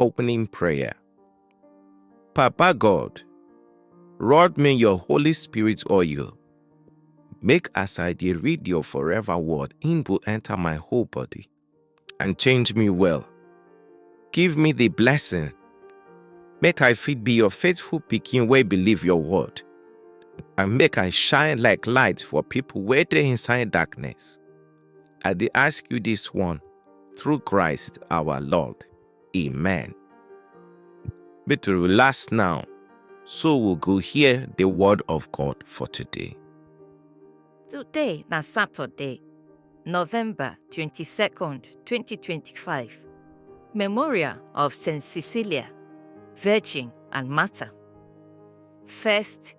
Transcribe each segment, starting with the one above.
Opening Prayer Papa God, rod me your Holy Spirit oil. Make as I dey read your forever word, im go enter my whole body and change me well. Give me the blessing, make I fit be your faithful pikin wey believe your word, and make I shine like light for people wey dey inside darkness. I dey ask you this one through Christ our Lord. Amen. Make to relax now, so we go hear the word of God for today. Today na Saturday, November 22nd, 2025. Memorial of St. Cecilia, Virgin and Martyr. First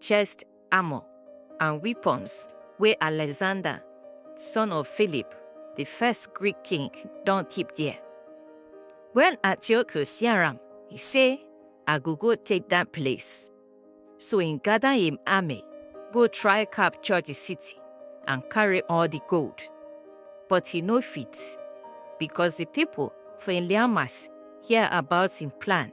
chest armor, and weapons wey Alexander, son of Philip, di first Greek king, don keep there. Wen Antiochus hear am, e say, I go go take dat place. So e gada im army go try capture di city and carry all di gold. But e no fit, becos di pipo for Elymas hear about im plan.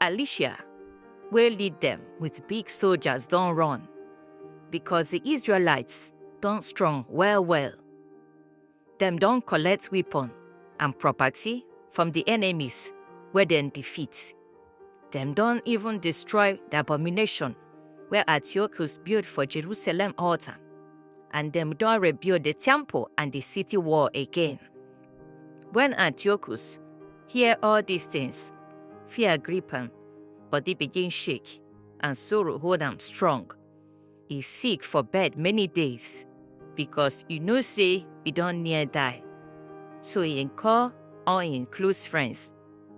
Elisha wey lead dem with big soldiers don run because the Israelites don strong well well. Dem don collect weapon and property from the enemies wey dem defeat. Dem don even destroy the abomination wey Antiochus build for Jerusalem altar and dem don rebuild the temple and the city wall again. When Antiochus hear all these things, fear grip him, body begin shake, and sorrow hold him strong. He sick for bed many days, because you know say he don near die. So he call all him close friends,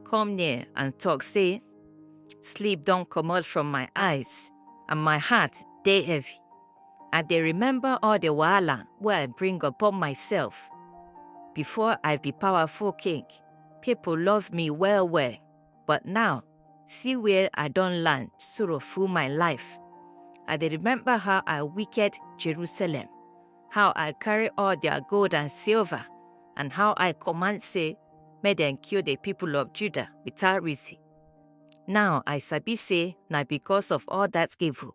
come near and talk say, sleep don comot from my eyes, and my heart dey heavy. I dey remember all the wahala wey I bring upon myself. Before I be powerful king, people love me well well, but now, see where I don land sorrow full my life. I dey remember how I wicked Jerusalem, how I carry all their gold and silver, and how I command say make dem kill the people of Judah without reason. Now I sabi say na because of all that evil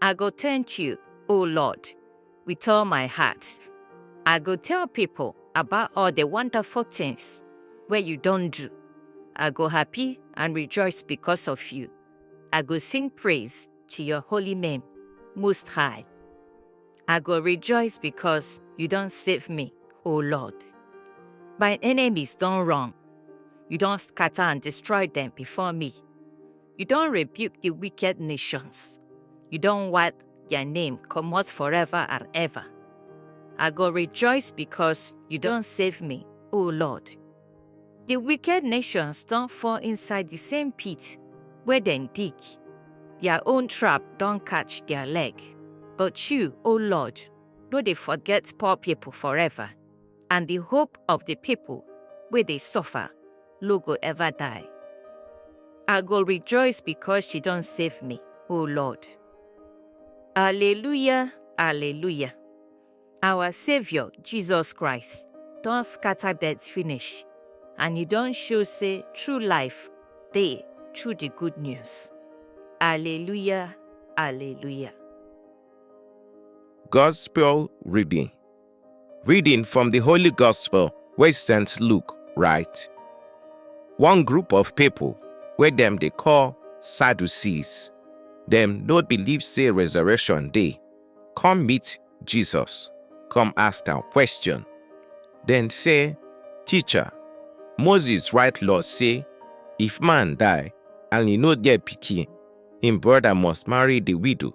I go thank you, O Lord, with all my heart. I go tell people about all the wonderful things where you don't do. I go happy and rejoice because of you. I go sing praise to your holy name, Most High. I go rejoice because you don't save me, O Lord. My enemies don't run. You don't scatter and destroy them before me. You don rebuke the wicked nations. You don wipe their name comot forever and ever. I go rejoice because you don save me, O Lord. The wicked nations don fall inside the same pit where dem dig. Their own trap don catch their leg. But you, O Lord, no dey forget poor people forever, and the hope of the people wey dey suffer no go ever die. I go rejoice because she don save me, O Lord. Alleluia, alleluia. Our Savior, Jesus Christ, don scatter death finish and e don show say true life dey through the good news. Alleluia, alleluia. Gospel reading. Reading from the Holy Gospel wey St. Luke write. One group of people wey dem dey call Sadducees, dem no believe say resurrection dey, come meet Jesus, come ask am question. Dem say, Teacher, Moses write law say if man die and e no get pikin, im brother must marry the widow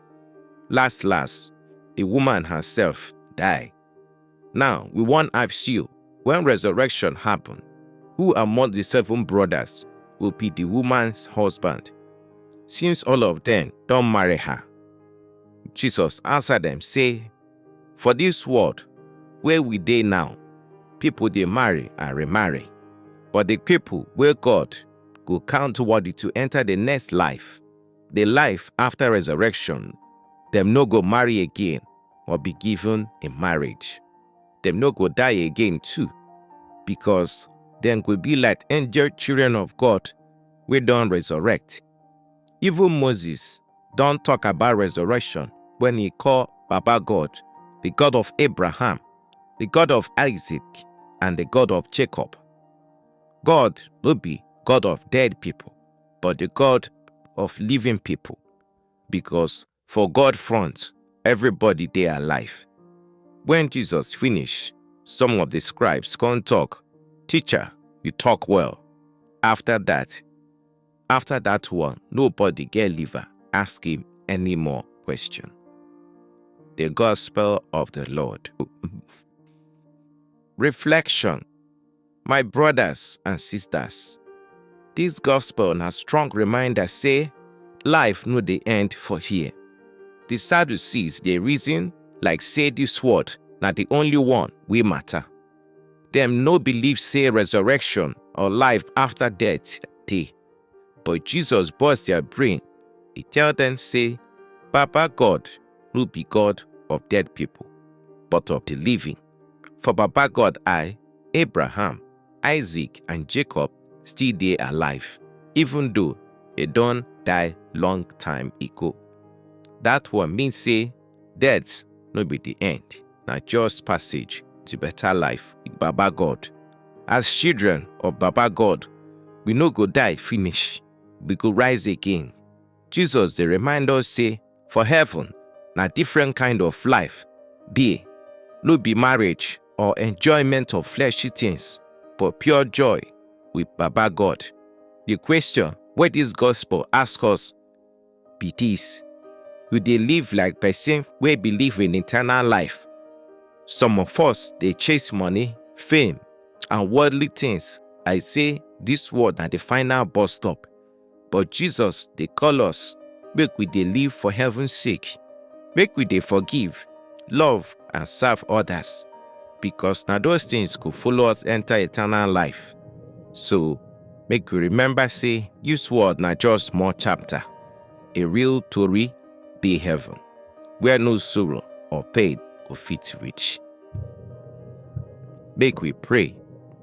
Last last, the woman herself die. Now, we wan ask you, when resurrection happen, who among the seven brothers will be the woman's husband? Since all of them don marry her. Jesus answer them say, For this world where we dey now, people dey marry and remarry. But the people where God go count worthy to enter the next life the life after resurrection, dem no go marry again or be given in marriage. Dem no go die again too, because dem go be like angel children of God wey don resurrect. Even Moses don talk about resurrection when he call Baba God, the God of Abraham, the God of Isaac, and the God of Jacob. God no be God of dead people. but the God of living people. Because for God front, everybody dey alive. When Jesus finish, some of the scribes come talk, Teacher, you talk well. After that, after that one, nobody get liver ask him any more question. The Gospel of the Lord. Reflection My brothers and sisters, this gospel na strong reminder say life no dey end for here. The Sadducees dey reason like say this world na the only one wey matter. Dem no believe say resurrection or life after death dey. But Jesus burst their brain. He tell them say, Baba God no be God of dead people, but of the living. For Baba God I, Abraham, Isaac and Jacob still dey alive even though e don die long time ago. That one mean say death no be the end, na just passage to better life with Baba God. As children of Baba God, we no go die finish, we go rise again. Jesus dey remind us say for heaven, na different kind of life dey. No be marriage or enjoyment of fleshy things, but pure joy with Baba God. The question wey this gospel ask us be this. You dey live like person wey believe in eternal life. Some of us dey chase money, fame, and worldly things like say this world na the final bus stop. but Jesus dey call us make we dey live for heaven sake. Make we dey forgive, love and serve others because na those things go follow us enter eternal life. So, make we remember say this world na just small chapter. A real tori dey heaven where no sorrow or pain go fit reach. Make we pray.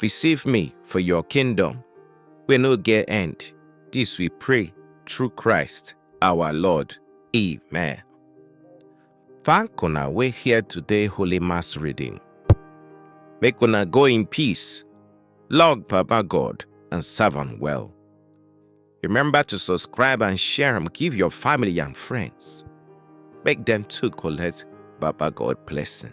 Receive me for your kingdom, we no get end. This we pray through Christ our Lord. Amen. Thank una we hear today Holy Mass reading. Make una go in peace, log Papa God, and serve him well. Remember to subscribe and share and give your family and friends. Make them too collect Baba God blessing.